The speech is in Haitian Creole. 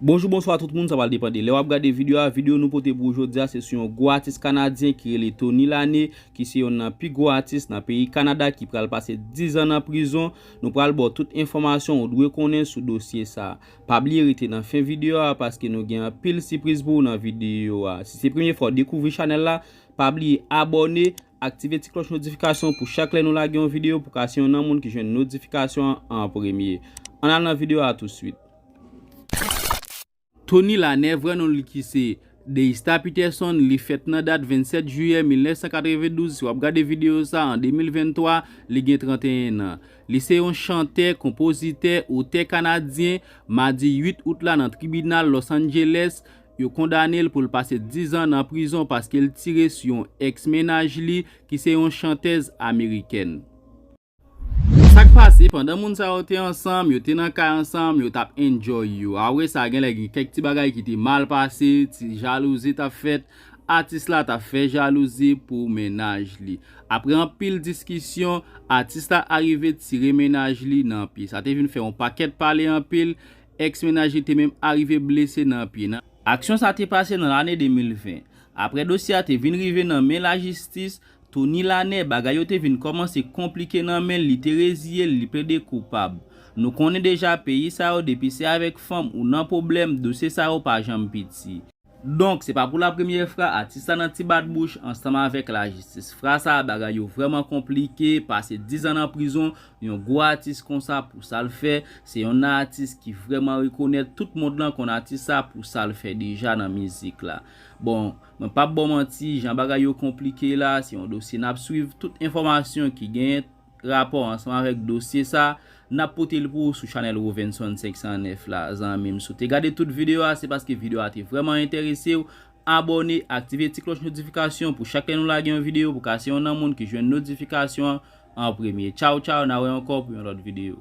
Bonjou bonswa tout moun sa pral depan de lè wap gade video a, video nou pote pou ou jodia se sou yon gwo atis kanadyen ki rele Tony Lane ki se yonn nan pi gwo atis nan peyi Kanada ki pral pase 10 zan nan prizon, nou pral baw tout enfòmasyon ou dwe konnen sou dosye sa. Pa bliye rete nan fen video a paske nou gen anpil sipriz pou ou nan video a. Si se premye fwa ou dekouvri chanèl la, pa bliye abòne Aktive ti klòch notifikasyon pou chak lè nou lage yon videyo pou ka se yon nan moun ki jwenn notifikasyon an an premye. Ann al nan videyo a touswit. Tony Lanez, vrè non li ki se, Deista Peterson, li fèt nan dat 27 jiyè 1992, si w ap gade videyo sa an 2023, li gen 31 nan. Li se yon chantè, konpozitè, otè kanadyen, madi 8 out la nan tribinal Los Angeles, Yo kondane l pou l pase 10 zan nan prizon paske l tire sou yon ex mennaj li ki se yon chantèz amerikèn. Sa k pase, pandan moun sa yo te ansanm, yo te nan kay ansanm, yo t ap enjoy yo. Apre sa, genlè gen kèk ti bagay ki te mal pase, ti jalouzi t ap fèt, atis la t ap fè jalouzi pou mennaj li. Apre anpil diskisyon, atis la arive tire mennaj li nan pye. Sa te vin fè yon pakèt pale anpil, Ex mennaj li te menm arive blese nan pye. Aksyon sa te pase nan lane 2020. Apre dosye a te vin rive nan men lajistis, Tony Lanez, bagay yo te vin kòmanse konplike nan men l, li te reziye l, li plede koupab. Nou konnen deja peyi sa yo depi se avèk fanm ou nan pwoblèm, dosye sa yo pa janm piti. Donk se pa pou la premyè fra atis la nan ti bat bouch ansanm avèk lajistis fra sa bagay yo vrèman konplike pase 10 an nan prizon yon gwo atis konsa pou sal fè se yonn nan atis ki vrèman rekonèt tout mond lan konn atis sa pou sal fè deja nan mizik la bon mwen pap baw manti jan bagay yo konplike la se yon dosye nap swiv tout enfòmasyon ki genyen rapò ansanm avèk dosye sa n ap pote l pou ou sou chanèl Rovenson 509 la zanmi m si w te gade tout videyo a se paske videyo a te vrèman enterese w abòne aktive ti klòch notifikasyon pou chak lè nou lage yon videyo pou w ka se yon nan moun ki jwenn notifikasyon an an premye tchaw tchaw na wè ankò pou yon lòt videyo.